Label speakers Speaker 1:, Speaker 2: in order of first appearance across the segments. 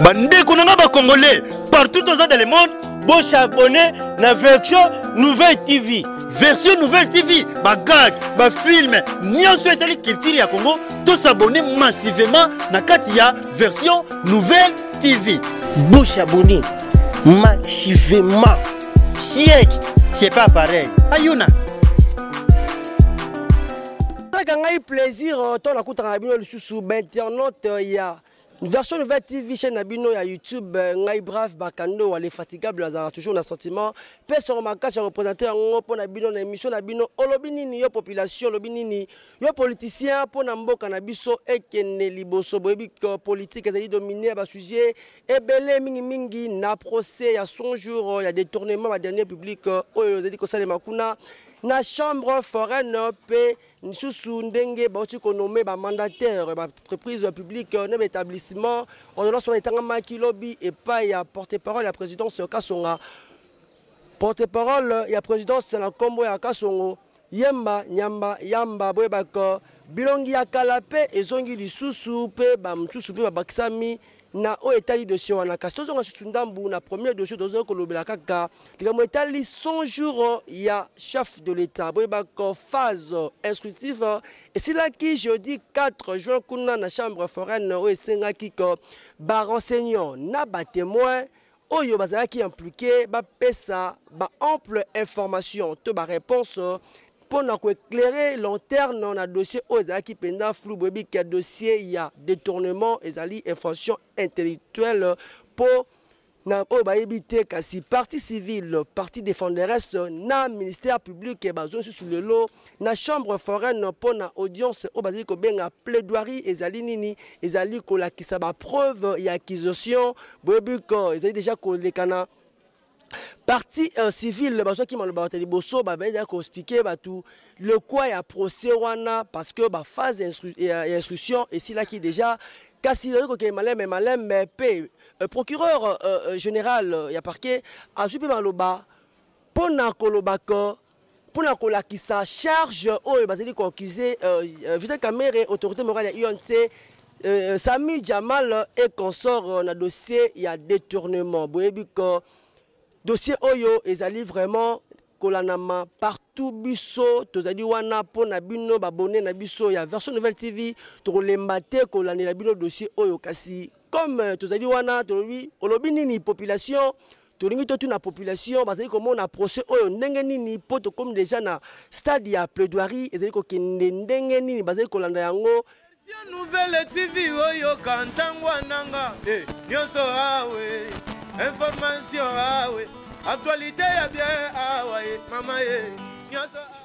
Speaker 1: bandeko na ngai bacongolais partout oza dans le monde bosabone
Speaker 2: na version nouvelle tv version nouvelle
Speaker 1: tv bagag bafilme nyonso etali culture ya congo tosabone massivement na kati ya version nouvelle tv bosabone
Speaker 2: massivement
Speaker 1: siek c'est pas pareil ayuna
Speaker 2: esalaka ngai plaisir euh, ntango nakutaka na bino lisusu bainternaute euh, ya version nouvelle tv chaîne na bino ya youtube euh, ngai brave bakando wale fatigable azalaka toujours na sentiment mpe soko makasi ya représente yango mpo na bino na émission na bino olobi nini yo population olobi nini yo politicien mpo na mboka na biso ekende liboso boyebi politique ezali domine ya basujet ebele mingi mingi na procès ya 100 jours ya détournement ba dernier public euh, oyo ezali kosalema kuna na chambre foraine mpe lisusu ndenge bauti konome bamandataire baentreprise publique na baétablissement ordonnance wana etangamaki lobi epai ya porte parole ya présidence kasonga porte parole ya présidence na nkombo ya kasongo Yemba, nyamba, yamba, boyeba ke bilongi ya kala pe ezongi lisusu pe ba mosusu pe babakisami na oyo etali dossier wana kasi tozonga susu ndambu na premier dossier tozali kolobela kaka likambo etali 100 jours ya chef de l'état boyeba ko phase instructive esilaki jeudi 4 juin kuna na chambre foraine oyo esengaki ko barenseignant na batemoin oyo bazalaki implike bapesa baample information to bareponse mpo na koeclaire lanterne na dossier oyo ezalaki mpenza flou boyebi ke dossier ya détournement ezali infraction intellectuelle mpo na oyo bayebi te kasi parti civile parti défenderesse na ministère public bazo lisusu lelo na chambre foraine mpo na audience oyo bazali kobenga plaidoirie ezali nini ezali kolakisa bapreuve ya accusation boyebi ko ezali deja kolekana parti euh, civile bazwaki maloba bato ya liboso babendaki koexplike bato lokwa ya procès wana parce que baphase ya instruction esilaki deja kasi ezali kokende maleme maleme mpe euh, procureur euh, euh, général ya parquet azwi mpe maloba mpo na kolobaka mpo na kolakisa charge oyo bazali koaccuse euh, euh, vital kamere autorité morale ya unc euh, euh, sami jamal e consort euh, na dossier ya détournement boyebi ko dossier oyo ezali vraiment kolanama partout biso tozali wana mpo na bino babone na biso ya version nouvelle tv tokolemba te kolandela bino dossier oyo kasi comme euh, tozali wana tolobi olobi nini population tolingi totuna population bazali komona procès oyo ndenge nini mpo tokomi deja na stade ya plaidoirie ezali kokende ndenge nini bazali kolanda yango nouvelle
Speaker 3: tv oyoka ntango ananga eh, nyonso awe information awe actualité ya bien awa ye mama ye nyonso awe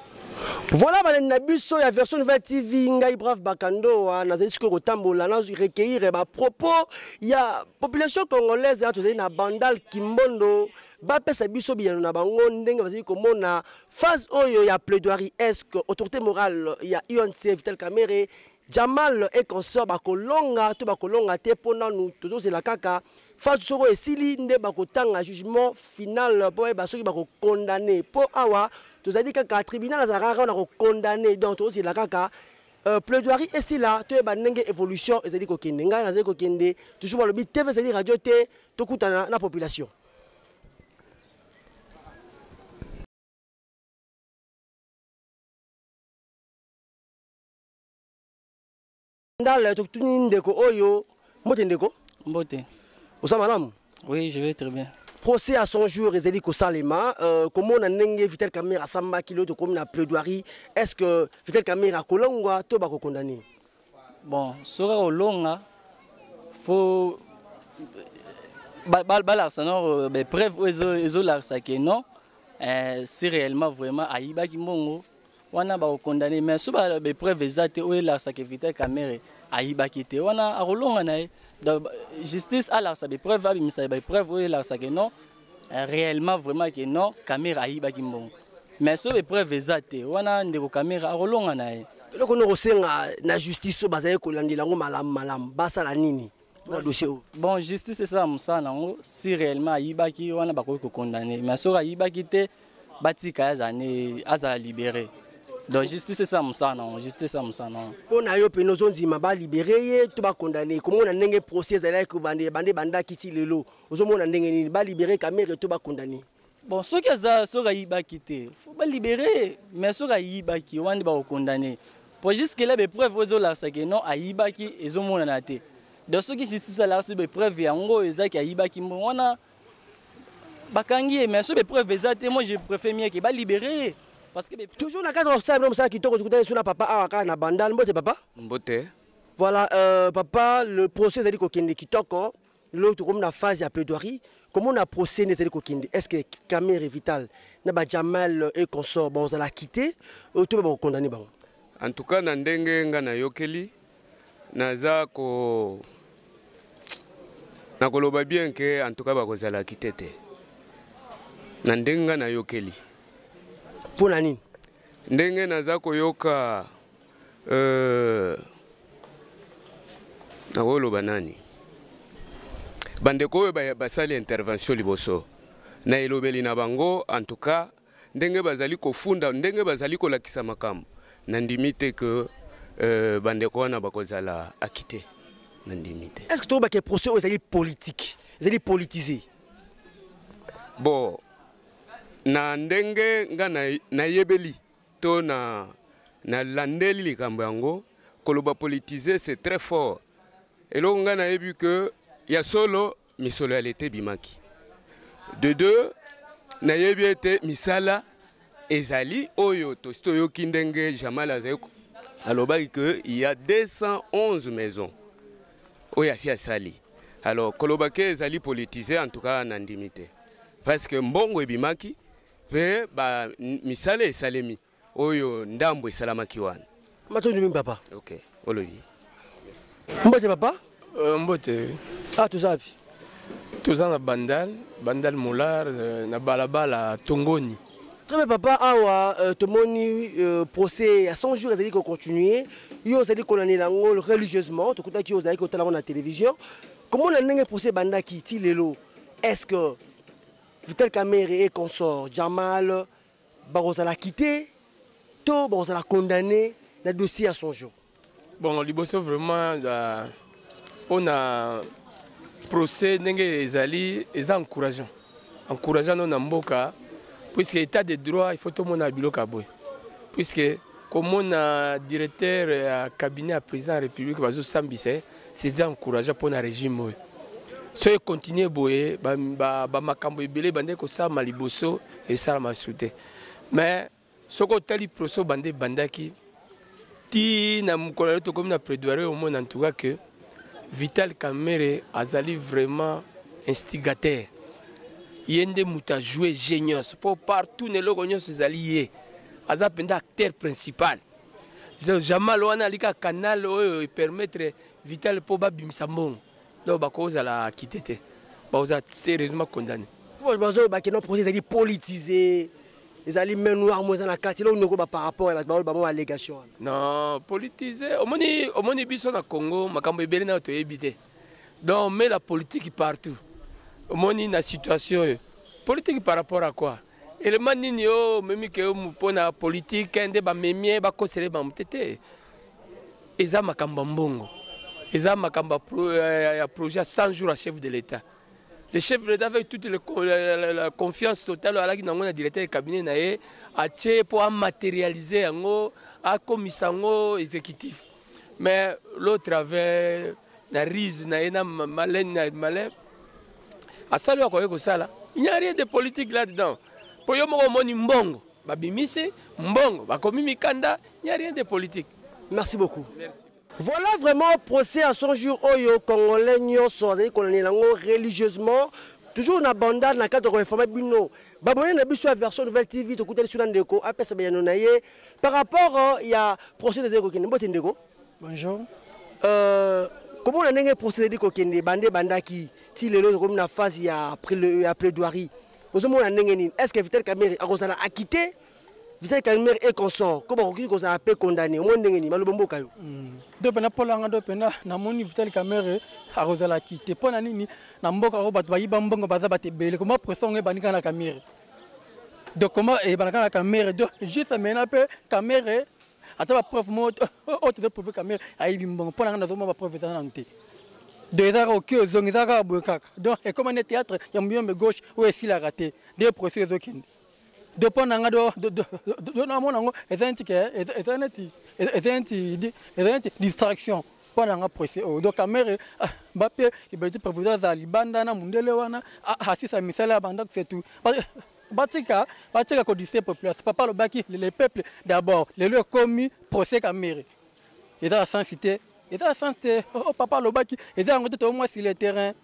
Speaker 2: Voilà balandi na biso ya version nouvelle TV ngai brave Bakandoa nazali sikoyo kotambola na recueillir ba propos ya population congolaise ya tozali na Bandal Kimbondo bapesa biso biyano na bango ndenge bazali komona phase oyo ya plaidoirie est-ce que autorité morale ya UNC Vital Kamerhe Jamal et consort bakolonga to bakolonga te mpo nanu tozozela kaka fasi soko esili nde bakotanga jugement final mpo bayeba soki bakokondane mpo awa tozali kaka tribunal azalaka kaka wana kokondane donc tozozela kaka Euh, plaidoirie esila toyeba ndenge évolution ezali kokende ngai nazali kokende toujours balobi tv ezali radio te tokutana na population Ndala tokutuni ndeko oyo mbote ndeko mbote
Speaker 4: oza malamu
Speaker 2: oui je vais très bien
Speaker 4: procès à son jour
Speaker 2: ezali kosalema euh, komona ndenge vital camera asambaki lelo tokomi na plaidoirie est ce que vital camera akolongwa to bakokondane bon
Speaker 4: soki akolonga fo balakisa no bapreuve oyo ezolakisa ke non euh, si réellement vraiment ayibaki mbongo wana ba condamner mais so ba be preuve ezate oyo elarsa ke Vital Kamerhe ayibaki te wana akolonga na ye justice alarsa be preuve abimisa ba preuve oyo elarsa ke non eh, réellement vraiment ke non Kamerhe ayibaki mbongo mais so be preuve ezate wana ndeko Kamerhe akolonga na ye eloko noko senga
Speaker 2: na justice so bazali kolandela yango malamu malamu basala nini mpona dossier oyo bon justice esala
Speaker 4: mosala na yango si réellement ayibaki wana bakoki kokondane mais soki ayibaki te batika ye azala ne azala libéré donc justice esala mosala na yango justice esala mosala na yango mpo na yo mpena
Speaker 2: ozondima balibere ye to bakondane komona ndenge procès ezalaki bande bandaki ti lelo ozomona ndenge nini balibere kamere to bakondane bon soki aza
Speaker 4: soki ayibaki te fo balibere mais soki ayibaki wana nde bakokondane po jusque la bepreuve oyo ezolakisa ke non ayibaki ezomonana te donc soki justice alakisi bepreuve yango oyo ezaki ayibaki mbongo wana bakangi ye mais soki bepreuve eza te moi je préfère mieke balibere ye parce que toujours na kati osala bino
Speaker 2: mosala kitoko tokutani so na papa awa kaka na bandal mbote papa mbote
Speaker 3: voilà euh,
Speaker 2: papa le procès ezali kokende kitoko lelo tokomi na phase ya plaidoirie komona procès ezali kokende est ce que camere vital na bajamal et consort bakozala kite oyo to bakokondane bango en tout cas na
Speaker 3: ndenge nga nayokeli naza ko nakoloba bien ke en tout cas bakozala kite te na ndenge nga nayokeli mpo
Speaker 2: na nini ndenge naza
Speaker 3: koyoka Euh, nakoloba nani bandeko oyo basali ba intervention liboso na elobeli na bango en tout cas ndenge bazali kofunda ndenge bazali kolakisa makambo nandimi te ke euh, bandeko wana bakozala akite nandimi te est ce que toyebake procès oyo
Speaker 2: ezali politike ezali politise
Speaker 3: bon na ndenge nga nayebeli na to na nalandeli likambo yango koloba politise c'est très fort eloko ngai nayebi ke ya solo misolo ya leta ebimaki de deux nayebi ete misala ezali oyo tosi toyoki ndenge jamal azali alobaki ke ya 211 maison oyo asi asali alors koloba ke ezali politise en tout cas nandimi te parce que mbongo ebimaki mpe ba misala esalemi oyo ndambo esalamaki wana matondi mingi papa
Speaker 2: ok olobi mbote papa uh, mbote
Speaker 5: ah toza wapi
Speaker 2: toza na
Speaker 5: bandal bandal molar euh, na balabala tongoni très bien papa
Speaker 2: awa euh, tomoni euh, procès ya 100 jours ezali kocontinue yo ozali kolandela yango religieusement tokutaki yo ozalaki kotala yango na télévision komona ndenge procès ebandaki ti lelo est ce que Vital Kamerhe et consort Jamal bakozala quitté to bakozala condamné na dossier ya son jour. Bon liboso
Speaker 5: vraiment la pona procès ndenge ezali eza encourageant. Encourageant no na mboka puisque état de droit il faut tout monde biloko ya boye puisque komona directeur ya cabinet ya président ya république bazosambisa ye c'est encourageant mpo na régime oyo soki ekontinue boye bamakambo ebele ebandaki kosalama liboso esalama su te mais soki otali proso banda ebandaki ti na mokolo yo tokomi na prédoire omona ntuka ke vital kamere azali vraiment instigateur ye nde moto ajoue je nyonso mpo partout na eloko nyonso ezali ye aza mpenza acteur principal jamal wana alika canal oyo epermettre vital mpo babimisa mbongo donc bakozala kite te bakozala sérieusement condamné bazoloba keno
Speaker 2: projet ezali politise ezali main noire mo eza na kati elongo nokoba par rapport ya bato baoyo bango allégation wana non
Speaker 5: politise omoni omoni biso na congo makambo ebele nayo toyebi te donc mais la politique partout omoni na situation oyo politique par rapport à quoi elema nini oyo omemi ke yo mpo na politike nde bamemi ye bakosele bango te te eza makambo ya mbongo eza makambo ya projet ya 100 jours ya chef de l'état le chef de l'état avec toute le, la, la, la confiance totale oyo alaki nango na directeur ya cabinet na ye atie mpo amatérialise yango akomisa yango exécutif mais l'autre avait na rise na ye na malene na malin asali oyo akoki kosala il n'y a rien de politique là dedans mpo yo moko omoni mbongo babimisi mbongo bakomi mikanda il n'y a rien de politique merci beaucoup
Speaker 2: merci. Voilà
Speaker 5: vraiment
Speaker 2: procès à son jour oyo congolais nyonso azali kolandela yango religieusement toujours na bandar na cadre koinforme bino babone na biso ya version nouvelle tv tokutani so na ndeko apesa bayano na ye Par rapport euh, ya prochaine ezali kokende mbote ndeko. Bonjour. Euh, komona ndenge procès ezali kokende bande ebandaki ti lelo ezokomi na phase ya, ya plaidoirie ozomona ndenge nini est ce que vital kamere akozala akite vital kamere e consort ko bakoki kozala mpe condamné omoi ndenge nini maloba mboka yo hmm. do mpena mpolanga
Speaker 6: do mpena namoni vital kamere akozala akite mpo na nini na mboka oyo bato bayiba mbongo baza bato ebele koma pression yango ebandika na kamere donc comment eyebana kaka na kamere donc juste maintenant mpe kamere ata bapreuve mo oyo tozo prouve kamere ayebi mbongo mpo na ngai nazomona bapreuve eza nanu te donc eza kaka oki ozongi eza kaka boye kaka donc ekoma nde théâtre ya muyombe gauche oyo esilaka te nde procès ezokende donc mpo na ngai do namona yango eza neti eza neti eza neti eza neti distraction mpo na nga presse oyo oh, donc kamere ah, mbape ibeti proviseur azala libanda na mundele wana ah, asisa misala ya bandako setu batika batika kodise population papa alobaki le peuple d'abord lelo ekomi procès kamere eza ya sensi te eza ya sensi te oh, oh, papa alobaki eza yango te toyo mwasi le terrain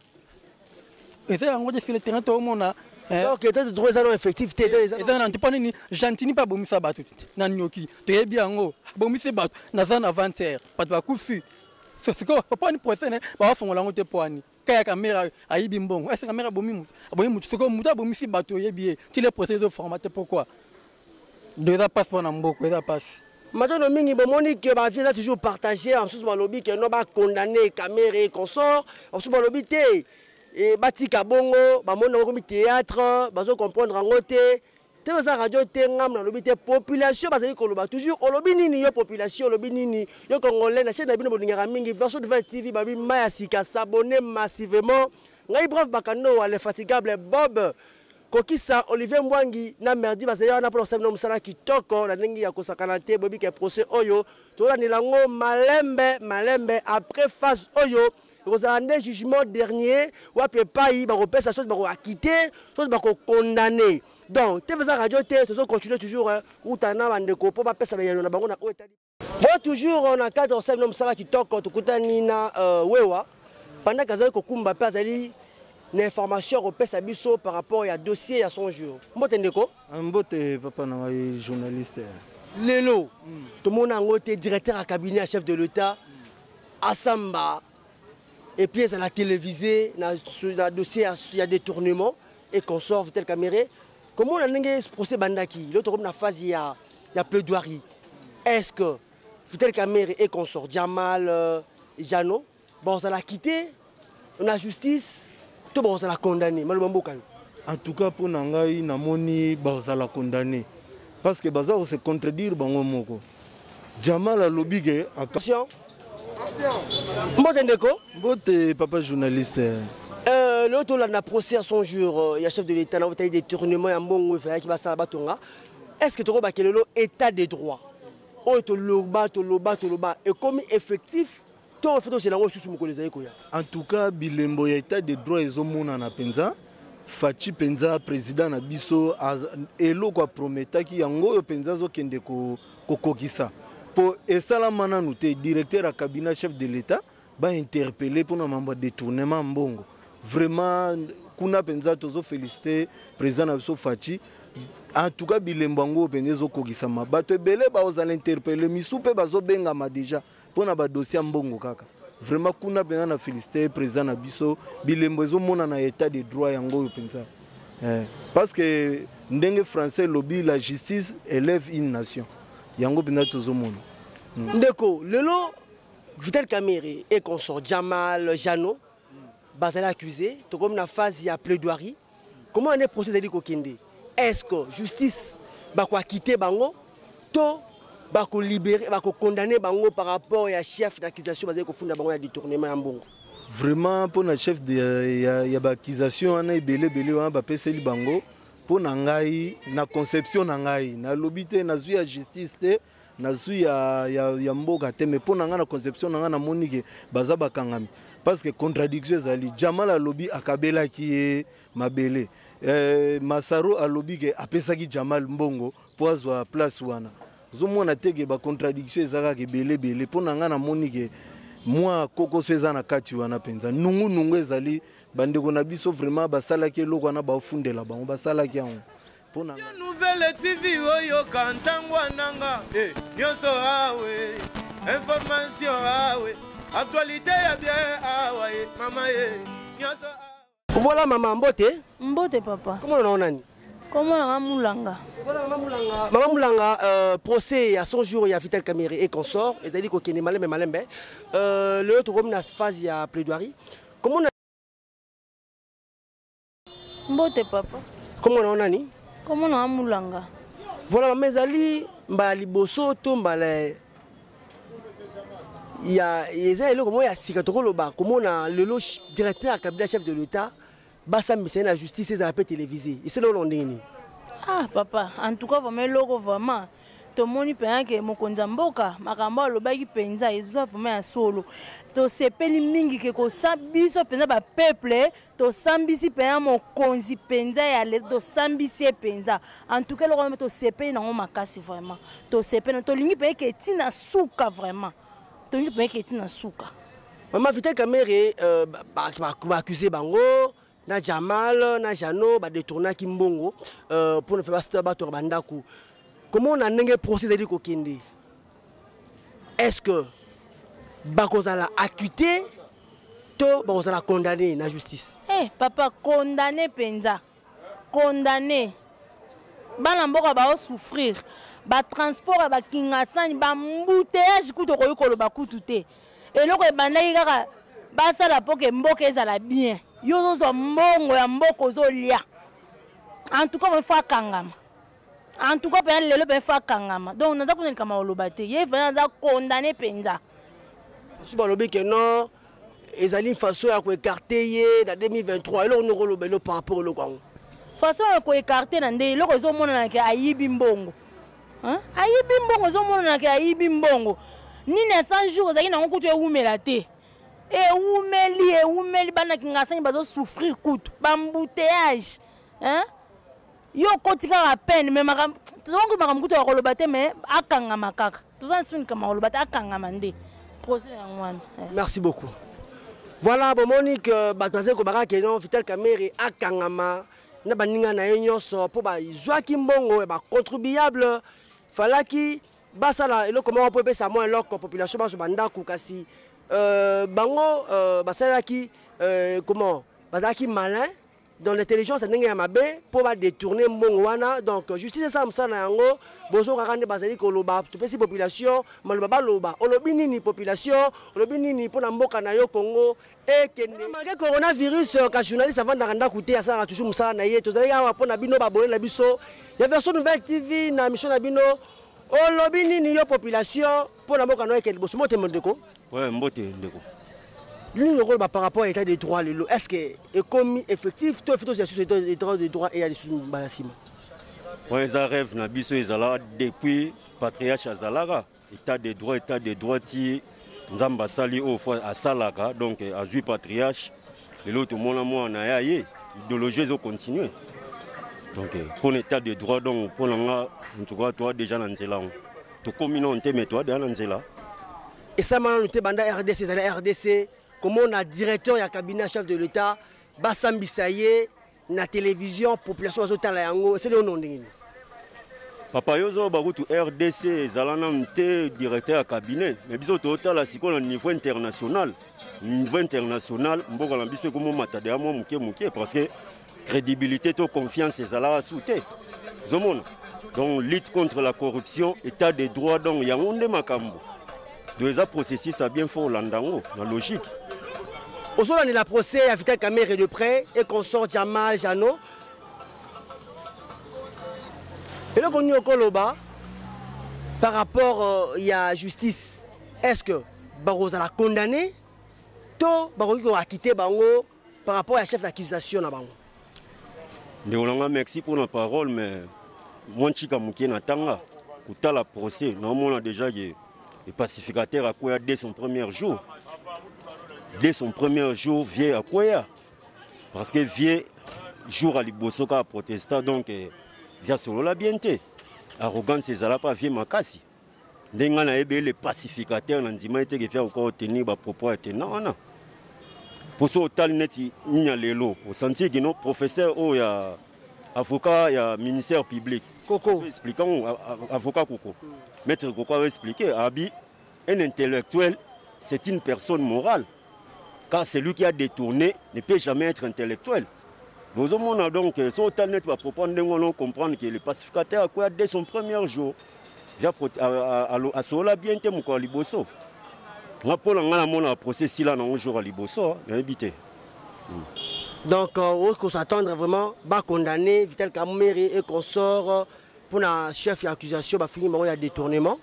Speaker 6: eza yango te sur le terrain toomona eh. donc état de droit
Speaker 2: eza na effectif te eza na ntipa nini
Speaker 6: gentini mpe abomisa bato na nioki toyebi yango abomisi bato naza na 20 heure bato bakufi sikoyo pwani procès ne bawafongola yango te pwani kaya kamera ayibi mbongo ese kamera abomi moto abomi moto sikoyo moto abomisi bato oyebi ye ti le procès ezoforma te pourquoi do eza mpasi mpo na mboko eza mpasi matondo mingi
Speaker 2: bomoni ke bavie eza toujours partage basusu balobi ke no bacondamne camere consort basusu balobi te e, batika bongo bamoni yango komi théâtre bazo comprendre yango te te baza radio te ngambo nalobi te population bazali koloba toujours olobi nini yo population olobi nini yo congolais na chaine na bino bolingaka mingi version nouvelle tv balobi ma ya sika s'abonne massivement ngai brave bakando wa l'infatigable bob Kokisa Olivier Mbwangi na Merdi bazali wana mpo na kosala bino mosala kitoko na ndenge ya kosakana te. Boyebi ke procès oyo tolandela yango malembe malembe. Après phase oyo ekozala nde jugement dernier wapi epai bakopesa soki bakoakite soki bakokondane. Donc te eza radio te tozo continue toujours kutana na bandeko mpo bapesa bayano na bango na oyo etali Voilà toujours euh, na cadre osali na mosala kitoko tokutani na euh, wewa pendant que azali kokumba mpe azali na information ya kopesa biso par rapport ya dossier ya son jour mbote ndeko ah, mbote papa
Speaker 1: na ngai journaliste lelo
Speaker 2: mm. tomona yango te directeur ya cabinet ya chef de l'état mm. asamba epuis ezala télévisé na, na dossier ya, ya détournement et consort vitel camere komona ndenge procès ebandaki lelo tokomi na phase ya, ya plaidoirie est ce que vital kamere et consort jamal euh, jano bakozala kite na justice to bakozala condamné maloba mbokani en
Speaker 1: tout cas mpo na ngai namoni bakozala condamné parce que baza kose contredire bango moko Jamal alobi ke attention. Mbote ndeko. Mbote papa journaliste. Euh, lelo
Speaker 2: tolanda procès ya 100 jours euh, ya chef de l'état na otali détournement ya mbongo efalaki basala batonga est ce que tokobake lelo état de droit oyo toloba toloba toloba ekomi effectif to faut tozela yango lisusu mokolo ezali koya en tout cas
Speaker 1: bilembo ya état de droit ezomonana mpenza faci mpenza président na biso eloko aprometaki yango oyo mpenza azokende kokokisa mpo esalama nanu te directeur ya cabinet chef de l'état bainterpele mpona mambo ya détournement ya mbongo vraiment kuna mpenza tozofélicite président na biso faci en tout cas bilembo yango oyo mpenza ezokokisama bato ebele baozala interpele misu mpe bazobengama déjà pona ba dossier mbongo kaka vraiment kuna mpenza na félicité président na biso bilembo ezomonana ya état de droit yango oyo mpenza eh, parce que ndenge français elobi la justice élève une nation yango mpenza tozomona hmm. ndeko
Speaker 2: lelo vital camere et consort jamal jano bazali accusé tokomi na phase ya plaidoirie comment ane procès ezali kokende est ce que justice bakoakite bango to bakolibere bakokondane bango par rapport ya chef d'accusation bazali kofunda bango ya détournement ya mbongo vraiment mpo na
Speaker 1: chef de, ya, ya baccusation wana ebele ebele wana bapeseli bango mpo na ngai na conception na ngai nalobi te nazwi ya justice te nazwi ya, ya, ya mboka te mais mpo na ngai na conception na ngai namoni ke baza bakangami parce que contradiction ezali jamal alobi akabelaki ye mabele eh, masaro alobi ke apesaki jamal mbongo mpo azwa place wana ozomona te ke bacontradiction eza kaka ebele ebele mpo na ngai namoni ke mwa kokoso eza na kati wana mpenza nungunungu ezali bandeko na biso vraiment basalaki eloko wana baofundela bango basalaki yango pona nga nouvelle tv
Speaker 7: oyoka ntango ananga eh. nyonso awe information awe actualité ya bien awa ye mama ye nyonso voilà
Speaker 2: mama mbote mbote papa
Speaker 8: komona nao nani
Speaker 2: komona nga
Speaker 8: mulanga
Speaker 2: mama mulanga euh, procès ya 100 jours ya vital camere et consort ezali kokende malembe malembe euh, lelo tokomi na phase ya plaidoirie komona Mbote papa. Comment on a ni?
Speaker 8: Comment on a mulanga? Voilà maman
Speaker 2: ezali mbala liboso to mbala ya eza eloko moko ya sika tokoloba komona lelo directeur ya kabila chef de l'état basambisa ye na justice ezala mpe télévisé esili olo ndenge nini ah papa
Speaker 8: en tout cas vraiment eloko vraiment tomoni mpenza ke mokonzi ya mboka makambo alobaki mpenza eza vraiment ya solo tosepeli mingi ke kosa biso mpenza bapeuple tosambisi mpenza mokonzi mpenza ya leta tosambisi ye mpenza antuka eloko wana tosepeli nango makasi vraiment tosepeli tolingi mpenza eke ti na suka vraiment tolingi mpenza eke ti na suka mama vital
Speaker 2: kamere euh, baaccuse bango na jamal na jano badetournaki mbongo euh, mpo na fe bato ya bandako komona ndenge procès ezali kokende est ce que bakozala acquitté to bakozala condamné na justice hey, eh, papa
Speaker 8: condamné mpenza condamné bana mboka baosouffrir batransport ya bakingasani bambuteyage kutu okoki koloba kutu te eloko ebandaki kaka basala mpo ke mboka ezala bien yo ozozwa mbongo ya mboka ozolia en tout cas il faut akangama en tout cas mpenza lelo mpe fa akangama donc naza kuna likambo ya koloba te ye mpenza aza condamne mpenza basusu
Speaker 2: balobi ke non ezali façon ya koekarte ye na 2023 eloko nde okoloba elo par rapport eloko yango façon ya
Speaker 8: koekarte na nde eloko ezomonana ke ayibi mbongo ayibi mbongo ezomonana ke ayibi mbongo nini ya 100 jour ezalaki nango kutu ewumela te ewumeli ewumeli bana kingasani bazosouffrir kutu bambouteillage hein? yo okoti kaka peine me makambo tozango makambo kutu ya koloba te me akangama kaka toza na soni kama koloba te akangama nde procès yango wana eh. merci beaucoup
Speaker 2: voilà bomoni ke bato bazali kobaka ke non vital kamere akangama na baninga na ye nyonso mpo bazwaki mbongo ya bacontribuable falaki basala eloko moko mpo epesa mwa eloko population bazwa bandako kasi euh, bango euh, basalelaki euh, comment bazalaki malin dans l'intelligence ndenge ya mabe mpo badetourne mbongo wana donc justice esala mosala na yango bozokaka nde bazali koloba topesi population maloba baloba olobi nini population olobi nini mpo na mboka na yo congo ekende malgre coronavirus euh, ka journaliste avandaka ndako te asalaka toujours mosala na ye tozalaki awa mpo na bino babone na biso ya version nouvelle tv na mission na bino olobi nini yo population mpo na mboka na yo ekende liboso motema ndeko Ouais, mbote ndeko.
Speaker 9: Lino
Speaker 2: lokola ba par rapport à l'état de droit lelo, est-ce que ekomi effectif to fito ya sous état de droit de droit et ya lisusu bala sima? Ouais,
Speaker 9: eza rêve na biso ezala depuis patriarche azalaka état de droit état de droit ti nzambe asali oyo fo asalaka donc azwi patriarche lelo tomona mwana ya ye idéologie ezo continue donc mpo na état de droit donc mpo na nga en tout cas toa déjà na nzela yango tokomi nano te me toadeya na nzela esalema
Speaker 2: nano te banda rdc ezali rdc komona directeur ya cabinet chef de l'état basambisa ye na télévision population bazotala yango eseli ono ndenge nini
Speaker 9: papa yo ozoba kutu rdc ezala nanu te directeur ya cabinet me biso totala sikoyo na niveau international niveau international mboka na biso ekomomata deya mwa moke moke parce que credibilité to confiance ezalaka su te ozomona donc lutte contre la corruption état de droit donc yango nde makambo donc eza processus ya bien fo olanda yango na logique
Speaker 2: ozolandela procès ya vital camere de près et consort jamal jano eloko nini okoloba par rapport euh, ya justice est ce que bakozala condamné to bakoki koakite bango par rapport ya chef d'accusation na bango ndeko
Speaker 9: na ngai merci mpo na parole mais mwa ntika moke na tanga kotala procès naomona déjà ke le pacificateur akwea dès son premier jour dès son premier jour vieux akwea parce que vieux jour ya liboso kaka protesta donc eh, via solola bien te arrogance ezala mpa vieux makasi ndenge ngai nayebi ye le pacificateur na ndima ete kefia kokoka kotenir bapropos ya tena wana mpo soki otali neti nini ya lelo osantir kino professeur oyo ya avocat ya ministère public koko explique yango avocat koko maître koko aexplike abi un intellectuel c'est une personne morale car celui qui a détourné ne peut jamais être intellectuel bozomona donc euh, so otali neti bapropos ndenge wana ocomprendre ke le pacificateur akoya dès son premier jour asolola bien te mokolo ya liboso nga mpo na ngai namonaka procès sila nango jour ya liboso nayebi te hmm. donc
Speaker 2: euh, okoki kosattendre vraiment bacondamne vital kamere et consort euh, mpo na chef ya accusation bafingi bango ya détournement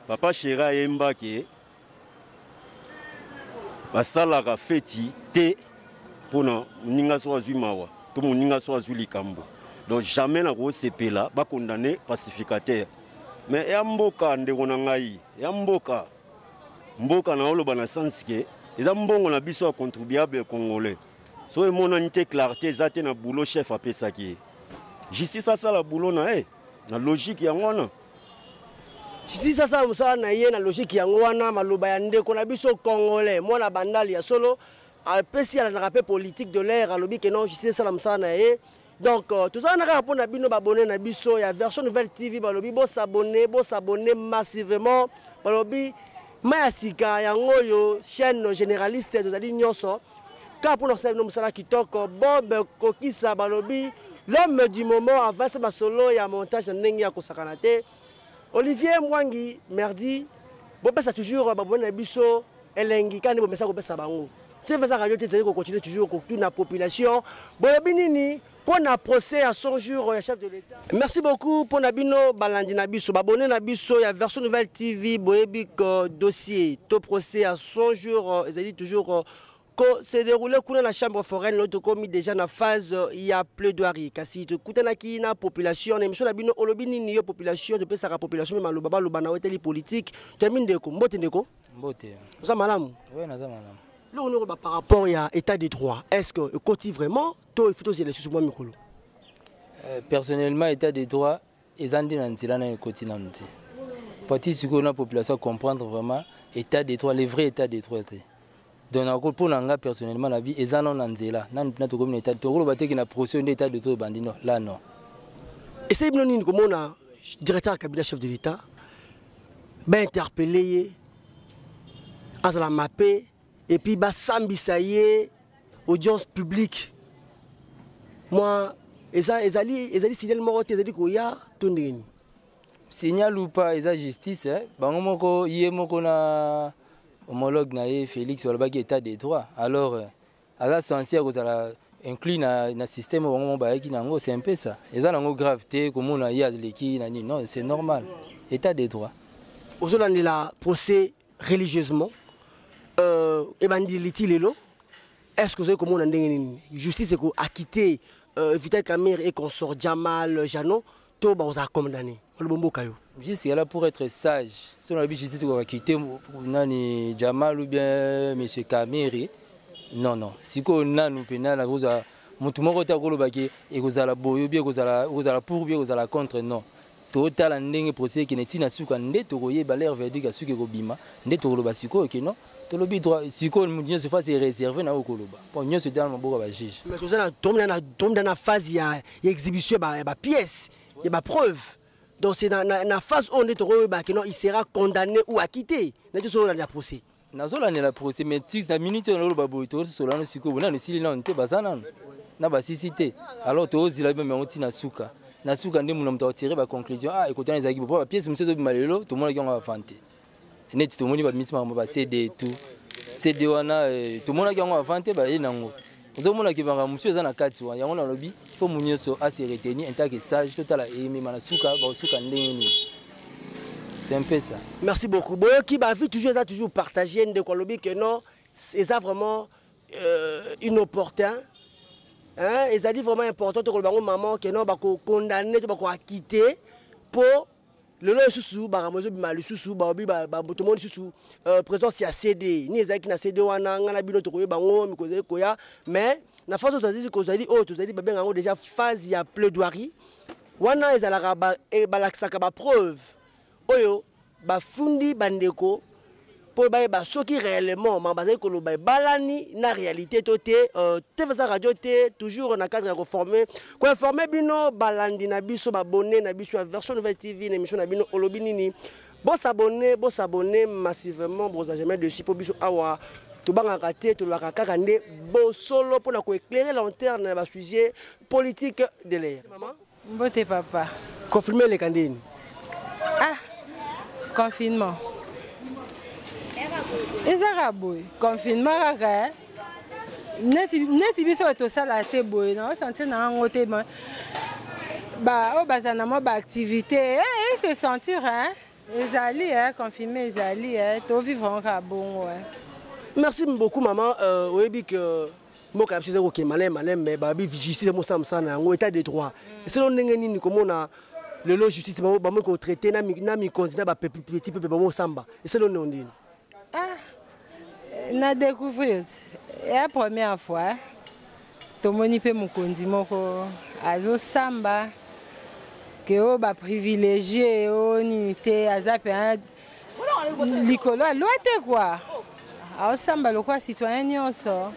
Speaker 2: papa
Speaker 9: chéri ayembaki basalaka feti te mpona moninga soki azwi mawa to moninga soki azwi likambo donc jamais nakosepela bakondane pacificateur mais ya mboka ndeko na ngai ya mboka mboka na oloba na sens ke eza mbongo na biso ya contribuable congolais soki emonani te clarté eza te na boulot chef apesaki ye justice asala boulot na ye na logique yango wana
Speaker 2: justice asala mosala na ye na logike yango wana maloba ya ndeko na biso congolais mwana bandali ya solo apesi alandaka mpe politique de l'air alobi ke non justice esala mosala na ye donc euh, tozala na kaka mpo na bino babone na biso ya version nouvelle tv balobi bosabone bosabone massivement balobi mai ya sika yango oyo chaîne généraliste tozali nyonso kaka mpona kosala bino mosala kitoko bob kokisa balobi l'homme du moment avasi masolo ya montage na ndenge ya kosakana te olivier mwangi merdi bopesa toujours baboni na biso elengi kaka nde bomesa kopesa bango tozali radio te tozali kocontinue toujours kotuna population bolobi nini mpo na procès ya 100 jours ya chef de l'État. Merci beaucoup mpo na bino balandi na biso babone na biso ya version nouvelle TV boyebi que dossier to procès ya 100 jours euh, ezali toujours euh, ko se déroule kuna na chambre foraine oyo tokomi déjà na phase euh, ya plaidoirie kasi tokutanaki na population na émission na bino olobi nini yo population topesaka population mpe maloba baloba na weteli politique toyambi ndeko mbote ndeko mbote oza
Speaker 10: malamu
Speaker 2: oui naza malamu
Speaker 10: loko noko ba par
Speaker 2: rapport ya état de droit est ce que ekoti vraiment to ifu tozela lisusu mwa mikolo euh,
Speaker 10: personnellement état de droit eza nde na nzela nayo ekoti nanu te pati sikoyo na population comprendre vraiment état de droit le vrai état de droit te donc nako mpo na nga personnellement na bi eza nano na nzela nanu mpena tokomi na état tokoloba teke na procès nde état de droit ebandi no la non esali
Speaker 2: bino nini komona directeur ya cabinet chef de l'état bainterpelle ye azala mape et puis basambisa ye audience publique mwa eza ezali ezali signal moko te ezali koya to ndenge nini
Speaker 10: signal ou pas eza justice eh? bango moko ye moko na homologue na ye félix balobaki état de droit alors eh, aza sensi ya kozala inclus na, na système bango moko bayaki na yango c'est un peu ça eza na yango grave te komona ye aleki na nini non c'est normal état de droit ozolandela
Speaker 2: procès religieusement euh, ebandi liti lelo est ce que ozali komona ndenge nini justice eko akite euh, vital camere et consort jamal jano to bakozala condamné olobo mboka yo justice
Speaker 10: yala pour être sage so nalobi justice ekoka kite nani jamal ou bien monsieur camere non non sikoyo nanu mpe nani akozwa motu moko te akolobaki ekozala boye obi ekozala pour bi ekozala contre non totala ndenge procès ekende ntina suka nde tokoyeba leur verdict ya suki ekobima nde tokoloba sikoyo ke non tolobi sikoyo moto nyonso fasi ereserve na oyo koloba mpo nyonso etala na maboko ya bajuge tomida
Speaker 2: na phase ya exhibition ya bapièce ya bapreuve donc c'est na phase oyo nde tokoyeba ke non il sera condamné ou acquitté na biso oyo olanda procès nazolandela procès
Speaker 10: mais tu na minute oyo naloba boye tososola nano sikoyo bonano esili nano te baza nano na basisi te alors tozila bino yango ntina suka na suka nde muna moto akotire baconclusion ah ekotana ezalaki bo mpo bapiese mosusu ezobima lelo tomonaki yango avante neti tomoni bamisi makambo bacd tout cd wana eh, tomonaki yango avante baye nango ozomona ke makambo mosusu eza na kati wana yango nalobi fo mu nyonso ase retenir en tant que sage totala eyemema na suka bakosuka ndenge nini c'est un peu ça merci beaucoup boyoki
Speaker 2: bavi toujours eza toujours partage ndeko alobi ke non eza vraiment euh, inopportun ezali vraiment important tokoloba yango maman ke non bakokondamne to bakoakite mpo lelo lisusu makambo ezobima lisusu baobi tomoni lisusu euh, présence ya cd ni ezalaki na cd wana ngai na bino tokoyeba yango mikolo ezali koya mais na phase oyo tozali kozali oyo tozali babenga yango déjà phase ya plaidoirie wana ezalaka eh, balakisaka bapreuve oyo bafundi bandeko mpo bayeba soki réellement ma bazali koloba ebalani na réalité to te euh, tvsa radio te toujours na cadre ya koforme koinforme bino balandi na biso babone na biso ya version nouvelle tv na émission na bino olobi nini bosabone bosabone massivement boza jamais dessus mpo biso awa tobangaka te tolobaka kaka nde bosolo mpo na koeclaire lanterne na basujet politique de l'air Mbote papa.
Speaker 11: Confirmer eleka
Speaker 2: ndeni? Ah,
Speaker 11: confinement. ezaka boye confinement kaka eh? neti biso bato tosala te boye na osentir na yango te baoyo oh, bazala na mwa baactivité e eh, eh, se sentir ezali confirme ezali tovivre yango kaka bongo merci
Speaker 2: beaucoup maman euh, oyebi que mboka ya biso ezali kokende malai malai me babi justice mosala mosala na yango état de droit mm. esolo ndenge nini komona lelo justice bamoki kotraite na mikonzi na bapeti pepe bamosamba esolo neo ndini ah,
Speaker 11: na découvrir ya première fois eh. tomoni mpe mokonzi moko azosamba ke oyo baprivilégie oyo nini te aza mpe likolo ya loi te kua aosamba lokola citoyen nyonso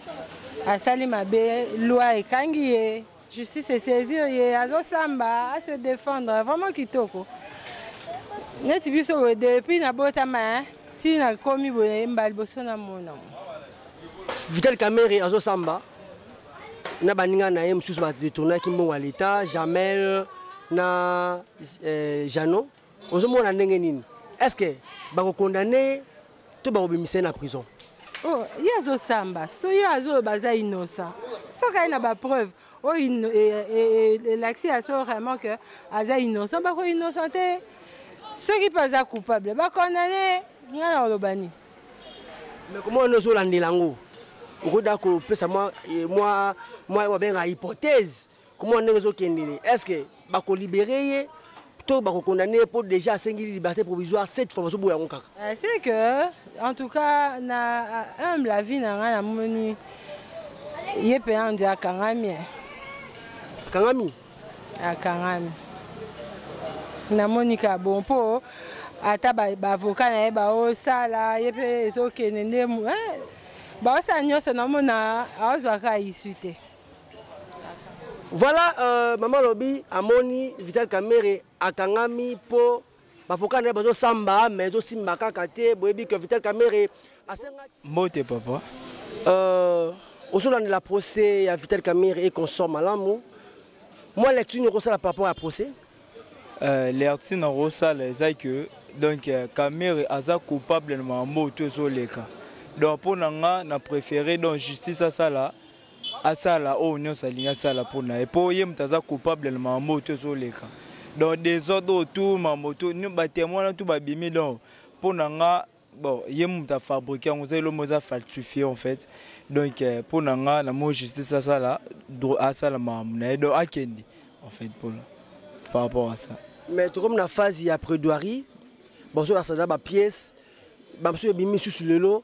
Speaker 11: asali mabe loi ekangi ye justice esaisir ye azosamba ase défendre vraiment kitoko neti biso boye depuis nabotama ti nakomi boye mbala liboso namona
Speaker 2: vital camere azosamba na baninga na ye mosusu badetournaki mbongo ya leta jamel na eh, jeannot ozomona ndenge nini est ce que bakokondane ye to bakobimisa ye na prison oh, ye
Speaker 11: azosamba so ye azoloba aza innocent soki aye na bapreuve oyo oh, eh, eh, eh, elakisi ya so vraiment ke aza innocent bako innocent te soki mpe aza coupable bakondane ngai na oloba nini me
Speaker 2: komona nde ozolandela yango okoda kopesa mwa babenga hypothèse komona ndenge ezokendele est ce que bakolibere ye to bakokondane ye mpo déjà asengi liberté provisoire cette fois bazoboya yango kaka euh, c'est que
Speaker 11: en tout cas na humble la vie na ngai namoni ye mpe andi akangami akangami akangami namoni ka bon mpo ata bavoka na ye baosala ye mpe ezokende nde baosala nyonso namona azwaka isu te Voilà,
Speaker 2: euh, Maman Lobi, Amoni, Vital Kamere, Akangami, Po, Bafoka, Bazo Samba, mais Bazo Simba Kakate, Boebi, que Vital Kamere, Asenga. Mbote, papa. Euh, de la procès à Vital Kamere et consort Malamou. Moi, lecture, nous ça par rapport à procès. Euh,
Speaker 12: lecture, nous ça, c'est que donc euh, Kamere aza coupable na mambo to ezoleka donc mpo na nga na préféré donc justice asala asala oyo oh, nyonso alingi asala mpo na ye mpo ye moto aza coupable na mambo oyo to ezoleka donc desordre oyo tu mambo tu batemwe wana tu babimi donc mpo na nga bon ye moto afabrike yango eza elombo eza falsifie en fait donc euh, mpo na nga na moi justice asala asala makambo na ye donc akende en fait mpona par rapport à ça mais tokomi na
Speaker 2: phase ya prédoirie bazolakisa na bapièce bamosusu ebimi misusu lelo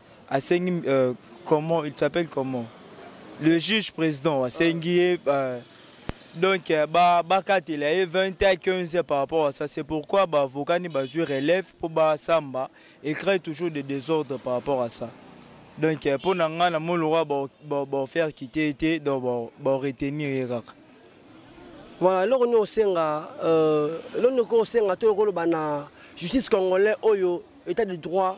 Speaker 12: asengi euh, comment il s'appelle comment le juge président asengi ye euh, donc euh, bakatela ba ye 20 à 15 par rapport à ça c'est pourquoi baavocat ni bazwi relève mpo basamba et crée toujours des désordres par rapport à ça donc mpo na ngai na moi lokwa baofaire kite ye te donc baoretenir ye kaka
Speaker 2: voilà eloko nini osenga eloko nini okosenga to okoloba na justice congolais oyo état de droit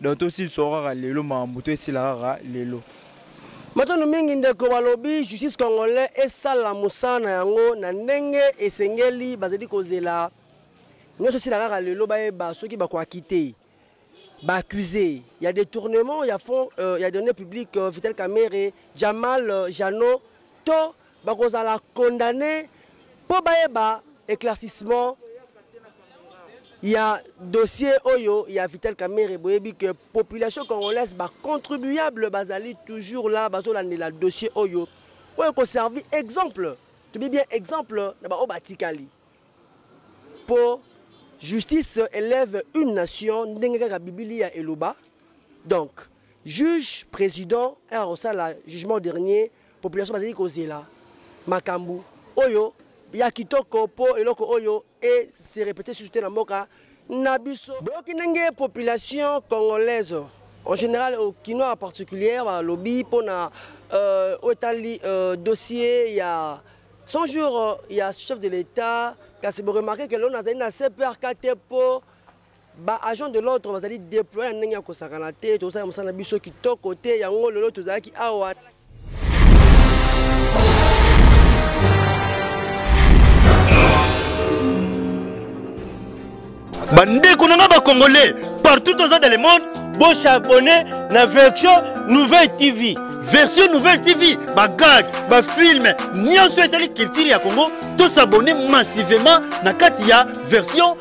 Speaker 12: donc tosilisa kaka lelo makambo to esila kaka lelo matondo
Speaker 2: mingi ndeko balobi justice congolais esala mosala na yango na ndenge esengeli bazali kozela nyonso esila kaka lelo bayeba soki bakoaki te baaccuse ya détournement ya fond euh, ya données publique euh, vital camere jamal euh, jano to bakozala condamne mpo bayeba éclaircissement ya dossier oyo ya Vital Kamerhe boyebi que population congolaise ba contribuable bazali toujours là bazolandela dossier oyo oyo ekoservi exemple tobi bien exemple na baoyo batikali mpo justice élève une nation ndenge kaka bibilia eloba donc juge président oyo akosala jugement dernier Population bazali kozela makambu oyo ya kitoko po eloko oyo e se répéter sur te na mboka na biso. Boyoki ndenge population congolaise en général au kinois en particulier ba lobby pona euh, otali euh, dossier ya 100 jours euh, ya chef de l'État kasi bo remarquer que l'on azali na CPRK te po ba agents de l'ordre bazali deploye na ndenge ya kosakana te tozosala mosala na biso kitoko te yango lelo tozalaki awa
Speaker 13: bandeko na ngai bacongolais partout toza dans le monde bosabone na version nouvelle tv version nouvelle tv bagag bafilme nyonso etali culture ya congo tosabone massivement na kati ya version